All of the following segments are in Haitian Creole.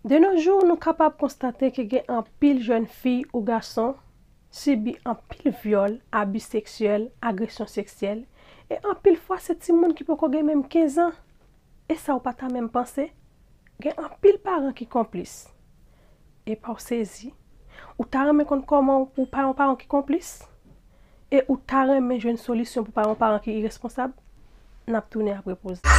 De no jou, nou kapab konstate ke gen anpil jèn fi ou gason sibi anpil vyòl, abi seksyèl, agresyon seksyèl, e anpil fwa se timoun ki poko gen menm 15 an. E sa ou pa ta menm panse? Gen anpil paran ki konplis. Epa w sezi? Ou ta renmen konn kòman ou pa yon paran ki konplis? E ou ta renmen jwenn solisyon pou w pa yon paran ki iresponsab? N ap tounen apre poz la.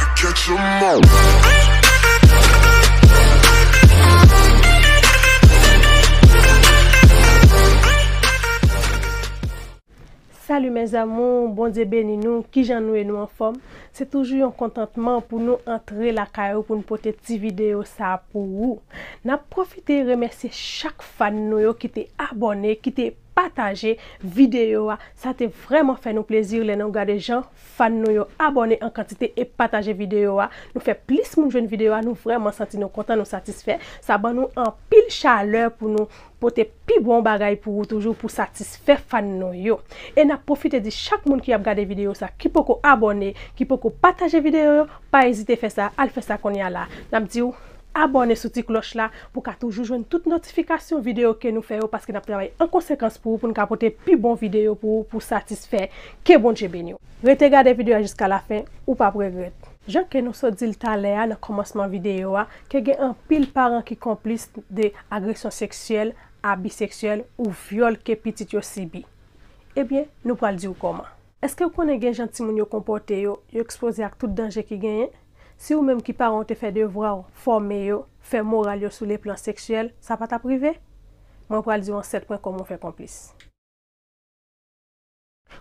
Salut mes amours Bondye beni nou kijan nou ye nou anfòm se toujou yon kontantman pou nou antre lakay ou pou nou pote ti video sa pou ou nap profite remèsye chak fan nou yo ki te abòne ki te pataje video a sa te vrèman fè nou plezi lè nou gade jan fan nou yo abòne an kantite e pataje video a nou fè plis moun jwenn video a nou vrèman santi nou kontan nou satisfè sa ban nou anpil chalè pou nou pote pi bon bagay pou ou toujou pou satisfè fan nou yo e nap pwofite di chak moun ki ap gade videyo sa ki poko abòne ki poko pataje videyo yo pa ezite fè sa al fè sa konnya la nap diw abòne sou ti klòch la pou ka toujou jwenn tout notifikasyon videyo ke nou fè yo paske nap travay an konsekans pou ou poun ka pote pi bon videyo pou ou pou satisfè ke Bondye beniw rete gade videyo a jiska la fen ou pap regrèt. Jan ke nou sot dil talè a nan kòmansman videyo a Ke gen anpil paran ki konplis de agresyon seksyèl, abi seksyèl ou vyòl ke pitit yo sibi. Ebyen, nou pral di ou kòman. Eske ou konnen gen jan timoun yo konpòte yo, yo ekspoze ak tout danje ki genyen? Si ou menm ki paran ou te fè devwa ou, fòme yo, fè moral yo sou le plan seksyèl, sa pa t ap rive? Mwen pral di ou an 7 pwen kòman ou fè konplis.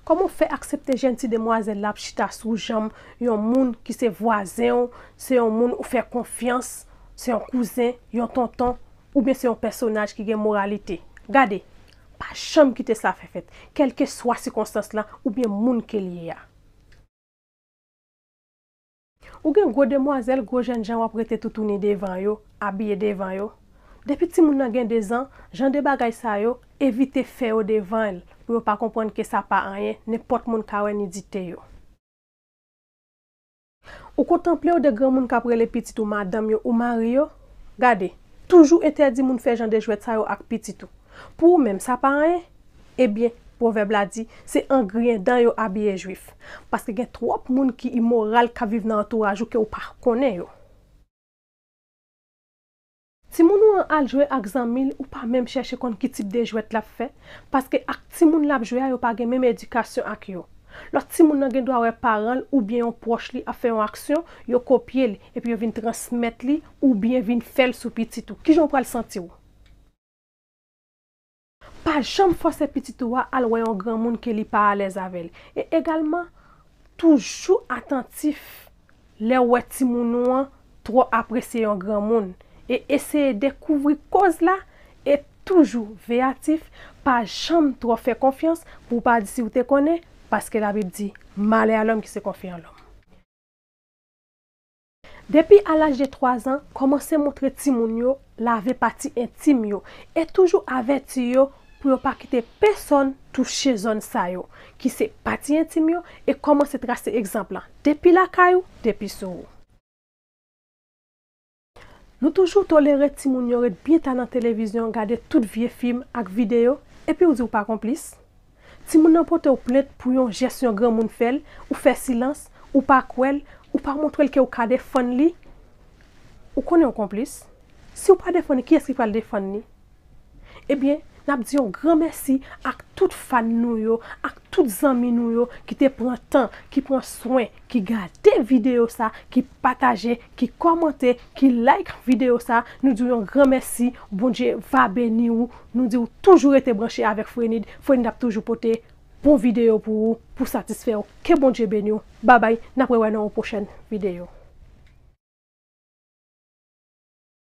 Kòman w fè aksepte jèn ti demwazèl la ap chita sou janm yon moun ki se vwazen w, se yon moun ou fè konfyans, se yon kouzen, yon tonton, oubyen se yon pèsonaj ki gen moralite? Gade! Pa janm kite sa fè fèt, kèlkeswa sikonstans la oubyen moun ke l ye a. Ou gen gwo demwazèl, gwo jènjan wap rete toutouni devan yo, abiye devan yo. Depi timoun nan gen 2 zan, jan de bagay sa yo, evite fè yo devan l pou yo pa konprann ke sa pa anyen, nenpòt moun ka wè nidite yo. Ou kontanple yo 2 granmoun kap rele pitit ou madanm yo ou mari yo? Gade, toujou entèdi moun fè jan de jwèt sa yo ak pitit ou. Pou ou menm, sa pa anyen? Ebyen, pwovèb la di, se an griyen dan yo abiye jwif. Paske gen twòp moun ki imoral k ap viv nan antouraj ou ke ou pa konnen yo. Timoun ou an al jwe ak zanmi l, ou pa menm chèche konn ki tip de jwèt l ap fè, paske ak timoun l ap jwe a yo pa gen menm edikasyon ak yo. Lòt timoun nan gen dwa wè paran l oubyen yon pwòch li ap fè yon aksyon, yo kopye l, epi yo vin transmèt li oubyen vin fè l sou pitit ou. Kijan ou pral santi w? Pa janm fòse pitit ou a al wè yon granmoun ke li pa alèz avè l. E egalman, toujou atantif lè ou wè timoun ou an twò apresye yon granmoun e eseye dekouvri koz la e toujou veyatif, pa janm twò fè konfyans pou ou pa di si ou te konnen, paske Labib di, Malè a lòm ki se konfye an lòm. Depi a laj de 3 zan, kòmanse montre timoun yo lave pati entim yo e toujou avèti yo pou yo pa kite pesòn touche zòn sa yo ki se pati entim yo e kòmanse trase egzanp lan depi lakay ou, depi sou ou. Nou toujou tolere timoun yo ret byen ta nan televizyon gade tout vye fim ak videyo epi ou di ou pa konplis? Timoun nan pote w plent pou yon jès yon granmoun fè l, ou fè silans, ou pa kwè l, ou pa montre l ke w ka defann li, ou konnen w konplis. Si w pa defann li, kiyès ki pral defann li? Ebyen, n ap di yon gran mèsi ak tout fan nou yo, ak tout zanmi nou yo ki te pran tan, ki pran swen, ki gade video sa, ki pataje, ki kòmante, ki like video sa, nou diw yon gran mèsi, Bondye va beni ou, nou diw toujou rete branche avèk Frenid, Frenid ap toujou pote bon video pou ou, pou satisfèw, ke Bondye beniw, babay, nap rewè nan yon pwochèn video.